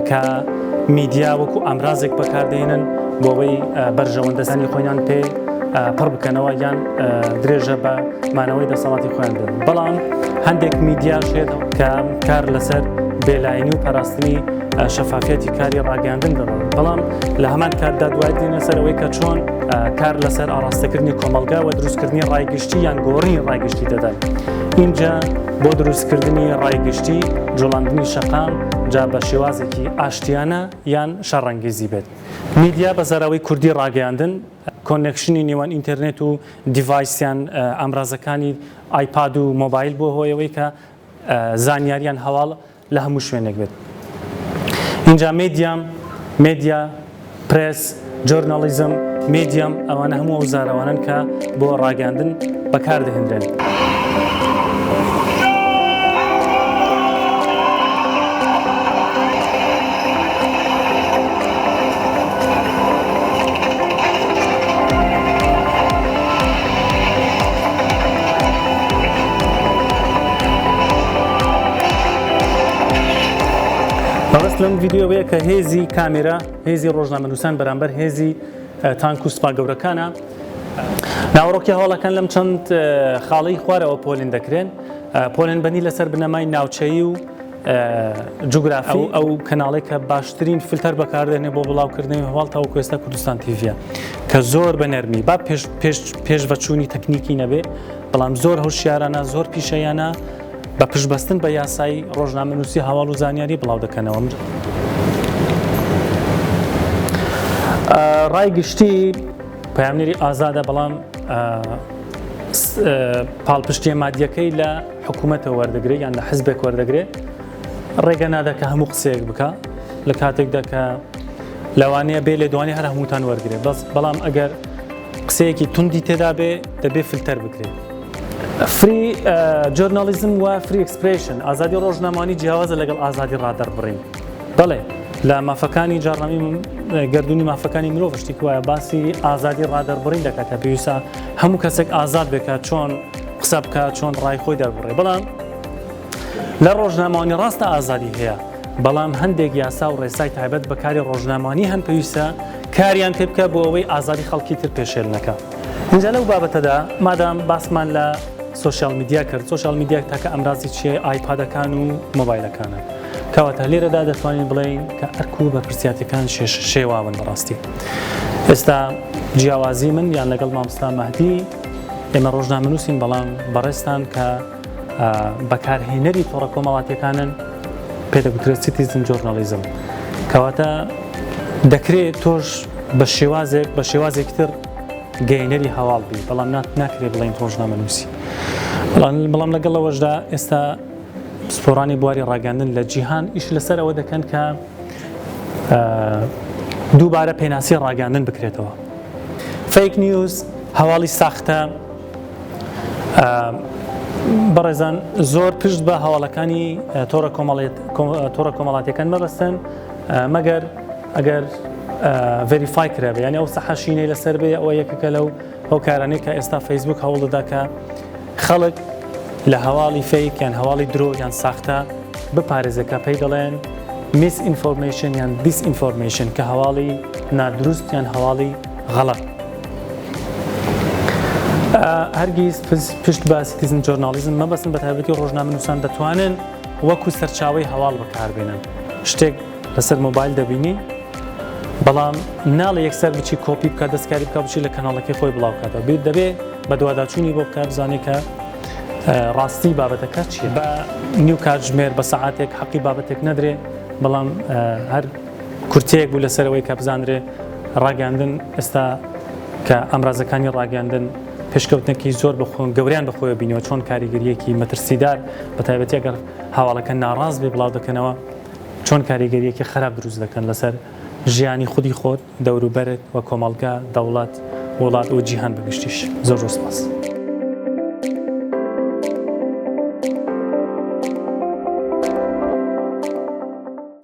کە میدیا وەکو ئامرازێک بەکاردێنن بۆەوەی بەرژەوەندەسانی خۆیان پێ پڕ بکەنەوە یان درێژە بە مانەوەی دەسەڵاتی خۆیان بن بەڵام هەندێک میدیا شێت کە کار لەسەر بێلاینی و پاراستنی شەفافەتی کاری ڕاگەاندن دەڵن بەڵام لە هەمان کاتدا دوای دێنە سەرەوەی کە چۆن کار لەسەر ئاراستەکردنی کۆمەلگا و دروستکردنی ڕایگشتی یان گۆڕی ڕایگشتی دەدەن اینجا بۆ دروستکردنی ڕایگشتی جوڵاندنی شەقام جا بە شێوازێکی ئاشتیانە یان شەڕەنگیزی بێت میدیا بە زاراوی کوردی ڕاگەیاندن کۆنێکشنی نێوان ئینتەرنێت و دیڤایسیان ئامرازەکانی ئایپاد و مۆبایل بۆ هۆیەوەی کە زانیاریان هەواڵ لە هەموو شوێنێک بێت ئینجا مێدیام، مێدیا، پرێس، جۆرناڵیزم، مێدیام ئەوانە هەموو ئەو زارەوانەن کە بۆ ڕاگەیاندن بەکار دەهێنرێن. مەبەست لەم ڤیددیو بەیە کە هێزی کامێرا هێزی ڕۆژنامەنووسان بەرامبەر هێزی تانک و سپا گەورەکانە ناوەڕۆکی هەواڵەکان لەم چەند خاڵی خوارەوە پۆلین دەکرێن پۆلێن بەنی لەسەر بنەمای ناوچەیی و جوگرافی ئەو کەناڵی کە باشترین فلتەر بەکاردێنێ بۆ بڵاوکردنی هەواڵ تاو کوێستە کوردستان تیڤە کە زۆر بە نەرمی با پێش بەچووی تەکنیکی نەبێ بەڵام زۆر هەوشیارانە زۆر پیشەیانە بە پشبەستن بە یاسایی ڕۆژنامە نووسی هەواڵ و زانیاری بڵاو دەکەنەوە من. ڕای گشتی پامنێری ئازادە بەڵام پاڵپشتیە مادیەکەی لە حکومەتەوە وەردەگرێت یان لە حزبێک وەردەگرێت ڕێگە نادا کە هەموو قسەیەک بکە لە کاتێکدا کە لەوانەیە بێ لێ دوانی هەر هەمووتان وەرگێ بەس بەڵام ئەگەر قسەیەکی توندی تێدا بێ دەبێ فلتەر بکرێت. فری جۆرنالیزم و فری ئەکسپرشن ئازادی ڕۆژنامانی جیاوازە لەگەڵ ئازادی ڕادەربڕین بەڵێ لە مافەکانی جاڕنامی گردردونی مافەکانی مرۆڤ شتیک وایە باسی ئازادی ڕادەربڕین دەکاتە پێویستە هەموو کەسێک ئازاد بێکە چۆن قسە بکە چۆن ڕای خۆی دەربڕێ بەڵام لە ڕۆژنامەوانی ڕاستە ئازادی هەیە بەڵام هەندێک یاسا و ڕێسای تایبەت بەکاری ڕۆژنامانی هەن پێویستە کاریان تێ بکە بۆ ئەوەی ئازادی خەڵکی تر پێشێل نەکە اینجا لەو بابەتەدا مادام باسمان لە سوسیال میدیا کرد سوسیال میدیاک تاکە ئەمرازی چێ ئایپادەکان و مۆبایلەکانە کەواتە لێرەدا دەتوانین بڵین کە ئەرک و بەرپسیاتەکان شێش شێواون بەڕاستی ئێستا جیاوازی من یان لەگەڵ مامستا مەهدی ئێمە ڕۆژنامەنووسین بەڵام بەڕێزتان کە بەکارهێنەری تۆڕە کۆمەڵاتیەکانن پێدەگوترێت سیتیزن جۆرنالیزم کەواتە دەکرێت تۆش بە شێوازێک بە شێوازێک تر گەینەری هەواڵ بی بەڵام ناکرێت بڵین ڕۆژنامەنووسی بەڵام لەگەڵ ئەوەشدا ئێستا پسپۆرانی بواری ڕاگەاندن لە جیهان ئیش لەسەر ئەوە دەکەن کە دووبارە پێناسی ڕاگەاندن بکرێتەوە فەیک نیوز هەواڵی ساختە بەڕێزان زۆر پشت بە هەواڵەکانی تۆڕە تۆڕە کۆمەڵاتەکان مەبەستن مەگەر ئەگەر ڤریفای کرابێ یعنی ئەو سەحەشینەی لەسەر بێ ئەوە یەکەکە لەو ئەو کارانەی کە ئێستا فەیسبوک هەوڵ دەداکە خەڵک لە هەواڵی فەیک یان هەواڵی درۆ یان ساختە بپارێزێ کە پێی دەڵێن میس ئینفۆرمەیشن یان دیس ئینفۆرمەیشن کە هەواڵی نادروست یان هەواڵی غەڵەت هەرگیز پشت بە سیتیزن جۆرنالیزم مەبەستن بە تایبەتی ڕۆژنامەنووسان دەتوانن وەکو سەرچاوی هەواڵ بەکاربێنن شتێک لەسەر مۆبایل دەبینی بەڵام ناڵە یەکسەر بچی کۆپی بکە دەستکاری بکە بچی لە کەناڵەکەی خۆی بڵاوکاتەوە بێت دەبێ بە دوواداچوونی بۆ بکە بزانێت کە ڕاستی بابەتەکە چیە بە نیو کاتژمێر بە سەعاتێک حەقی بابەتێک نەدرێ بەڵام هەر کورتەیەک بوو لەسەرەوەی کە بزانرێ ڕاگەاندن ئێستا کە ئامرازەکانی ڕاگەاندن پێشکەوتنەکی زۆر بخۆن گەوریان بەخۆی بینەوە چۆن کاریگەریەکی مەترسیدار بە تایبەتێگەر هاواڵەکە ناڕاز بێ بڵاو دەکەنەوە چۆن کاریگەرییەکی خراپ دروست دەکەن لەسەر ژیانی خودی خۆت، دەوروبەرت و کۆمەڵگە، دەوڵەت، وڵات و جیهان بە گشتیش. زۆر زۆر سپاس.